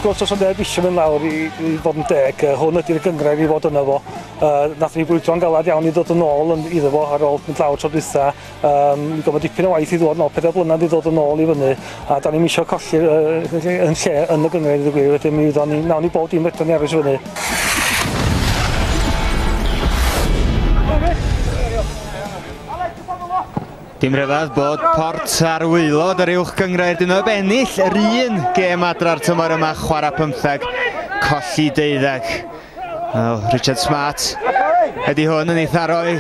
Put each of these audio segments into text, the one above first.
gwrs, os o'n neb eisiau mynd lawr i, i fod yn deg, uh, hwn ydy'r gyngrair i fod yna fo. Uh, nath ni fwyto'n galad iawn i ddod yn ôl yn, iddo fo ar ôl mynd lawr tro dwytha. Um, mi gofod dipyn o waith i ddod nôl, pedair blynedd i ddod yn ôl i fyny, a da ni'n eisiau colli uh, yn lle yn y gyngryd y gwir, wedyn mi wyddo'n ni, nawn ni bob dim fedrwn ni aros i fyny. Dim rhyfedd bod Port ar waelod yr uwch gyngryd dyn nhw'n ennill yr un gêm adra'r tymor yma chwarae pymtheg, colli deuddeg. Wel, Richard Smart ydy hwn yn ei tharoi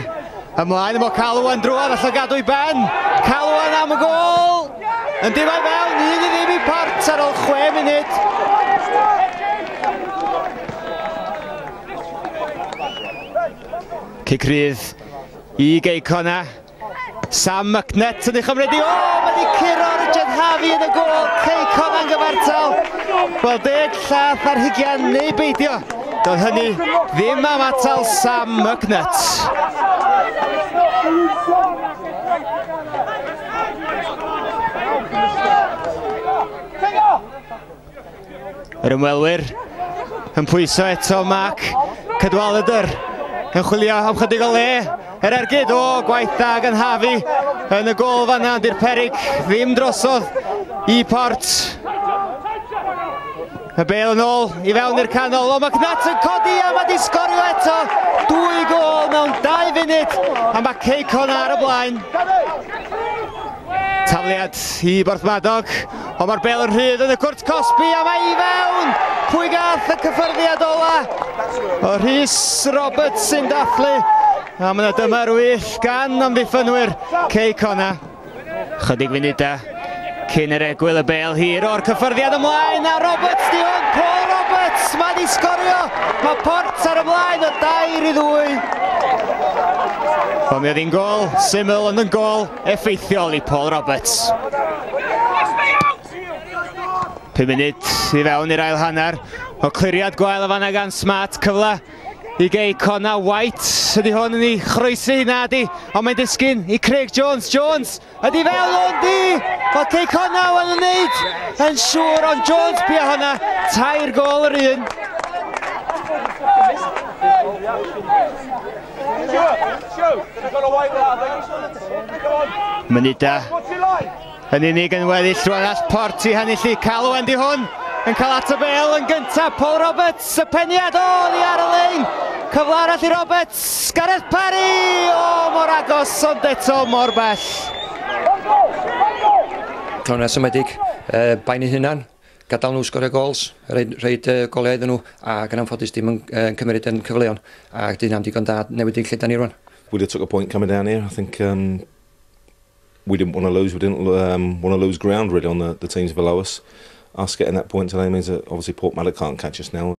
ymlaen. Mae Calwan drwad allan gadw i ben. Calwan am y gol. Yn dim o'i fewn, un i ddim i port ar ôl chwe munud. Cic rydd i Geicona. Sam Mcnutt yn ei chymryd i. O, mae wedi curo Richard Harvey yn y gol. Ceicon yn gyfartal. Wel, deg llath ar hugian neu beidio. Doedd hynny ddim am atal Sam Mcnutt. Yr ymwelwyr yn pwyso eto Mark Cadwaladr yn chwilio am chydig o le. Yr ergyd o gwaith dda gan Harvey yn y gol fanna, ond i'r perig ddim drosodd i Port. Y bel yn ôl i fewn i'r canol, o mae Cnat yn codi a mae di sgorio eto dwy gol mewn dau funud a mae Ceicon ar y blaen. Tafliad i Borthmadog, ond mae'r bel yn rhydd yn y cwrt cosbi a mae i fewn! Pwy gath y cyffyrddiad ola? O Rhys Roberts sy'n dathlu a mae yna dymer wyth gan amddiffynwyr Cei Cona. Chydig funudau cyn yr egwyl y bel hir o'r cyffyrddiad ymlaen a Roberts di hwn, Paul Roberts, mae di sgorio, mae Port ar ymlaen o dair i ddwy. Ond mi oedd hi'n gol syml ond yn gol. effeithiol i Paul Roberts. 5 munud i fewn i'r ail hanner. O cliriad gwael o fanna gan Smart, cyfle i gei Cona White. Ydy hwn yn ei chroesi, na di, ond mae'n disgyn i Craig Jones. Jones, ydy fel o'n di! Mae Cei Cona yn yn neud yn siŵr, ond Jones bia hwnna, tair gol yr un. Mynida yn unig yn weddill rwan all port i henillu calw Andy hwn yn cael at y bel yn gyntaf Paul Roberts y peniad o ni ar y lein cyfle arall i Roberts Gareth Parry o mor agos ond eto mor bell Tony'n symedig, uh, bain ei hunan. Gadael nhw sgorio gols, rhoid, rhoid uh, golau iddyn nhw, ac yn anffodus dim yn uh, cymryd yn cyfleon, ac dyna'n digon da newid yn lle da ni rwan. We did took a point coming down here, I think um, we didn't want to lose, we didn't um, want to lose ground really on the, the teams below us. Us getting that point today means that obviously Portmada can't catch us now.